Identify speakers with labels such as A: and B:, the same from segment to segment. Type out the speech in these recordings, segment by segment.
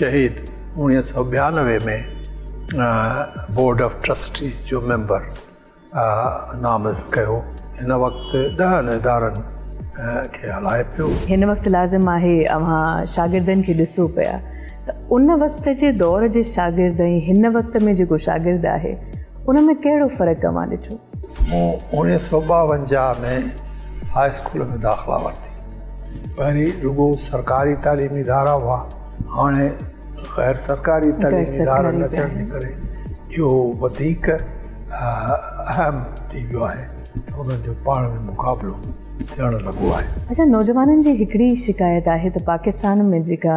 A: شهيد اوڻيهه سؤ ٻيانوي ۾ بورڊ آف ٽرسٽيز جو ميمبر نامزد ڪيو هن وقت ڏهن ادارن کي هلائي پيو. هن وقت لازم
B: آهي اوهان شاگردن کي ڏسو پيا ته ان وقت جي دور جي شاگرد ۽ هن وقت ۾ جيڪو شاگرد آهي ان ۾ ڪهڙو فرق اوهان ڏٺو؟ مون اوڻيهه
A: سؤ ٻاونجاهه ۾ هاء اسڪول ۾ داخلا ورتي. پهرين رڳو سرڪاري تعليمي ادارا هئا هاڻي غير سرڪاري تعليمي ادارن اچڻ جي ڪري اهو وڌيڪ اهم ٿي ويو آهي ته انهن جو پاڻ ۾ مقابلو ٿيڻ لڳو آهي. اچا نوجوانن جي
B: هڪڙي شڪايت آهي ته پاڪستان ۾ جيڪا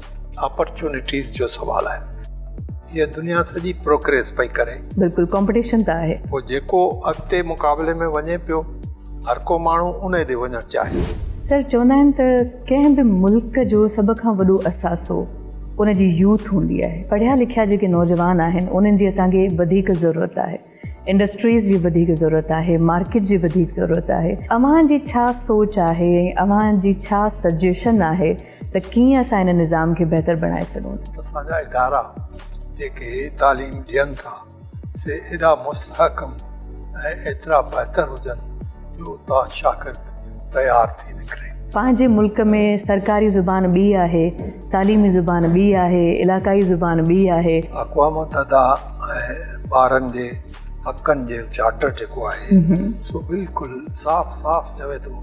A: اپرچونٽيز جو سوال آهي هيء دنيا سڄي پروڪريس پئي ڪري. بلڪل ڪمپٽيشن
B: ته آهي. پوء جيڪو اڳتي
A: مقابلي ۾ وڃي پيو هرڪو ماڻهو انهي ڏي وڃڻ چاهي ٿو. سر چوندا آهن ته
B: ڪنهن به ملڪ جو سڀ کان وڏو اثاثو ان جي يوٿ هوندي آهي پڙهيا لکيا جيڪي نوجوان آهن انهن جي اسان کي وڌيڪ ضرورت آهي. انڊسٽريز جي وڌيڪ ضرورت آهي، مارڪيٽ جي وڌيڪ ضرورت آهي، اوهان جي ڇا سوچ آهي ۽ اوهان جي ڇا سجيشن آهي ته ڪيئن اسان ان نظام کي بهتر بڻائي سگهون ٿا؟ اسان جا ادارا
A: جيڪي تعليم ڏين ٿا سي ايڏا مستحڪم ۽ ايترا بهتر هجن جو اتان شاگرد تيار ٿي نڪري. پنهنجي ملڪ
B: ۾ سرڪاري زبان ٻي آهي، تعليمي زبان ٻي آهي، علاقائي زبان ٻي آهي. اقوام متحده
A: ۽ ٻارن جي حقن جو چارٽر جيڪو آهي سو بلڪل صاف صاف چوي ٿو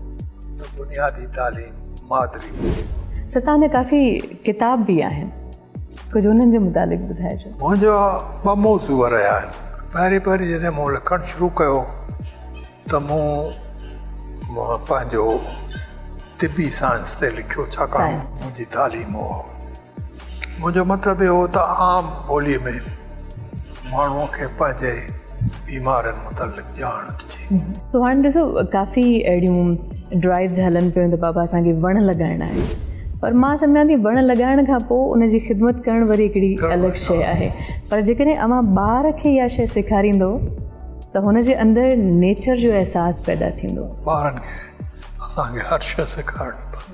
A: ته بنيادي تعليم مادري ٻولي ۾ هجي. سر توهان جا ڪافي
B: ڪتاب به آهن ڪجهه انهن جي متعلق ٻڌائجو. منهنجا ٻه
A: موضوع رهيا آهن پهرين پهرين جڏهن مون لکڻ شروع ڪيو ته مون پنهنجو طبي سائنس تي لکيو ڇاڪاڻ منهنجي تعليم هئا. منهنجو مطلب اهو هو ته عام ٻوليء ۾ ماڻهوء کي پنهنجي بيمارين متعلق ڄاڻ ڏجي. سو هاڻ ڏسو
B: ڪافي اهڙيون ڊرائيوز هلن پيون ته بابا اسان کي وڻ لڳائڻا آهن پر مان سمجهان ٿي وڻ لڳائڻ کان پوء ان جي خدمت ڪرڻ وري هڪڙي الڳ شيء آهي پر جيڪڏهن اوهان ٻار کي اها شيء سيکاريندو ته هن جي اندر نيچر جو احساس
A: پيدا
B: ٿيندو.
A: ٻارن
B: کي
A: اسان کي
B: هر شيء سيکارڻي
A: پوندي.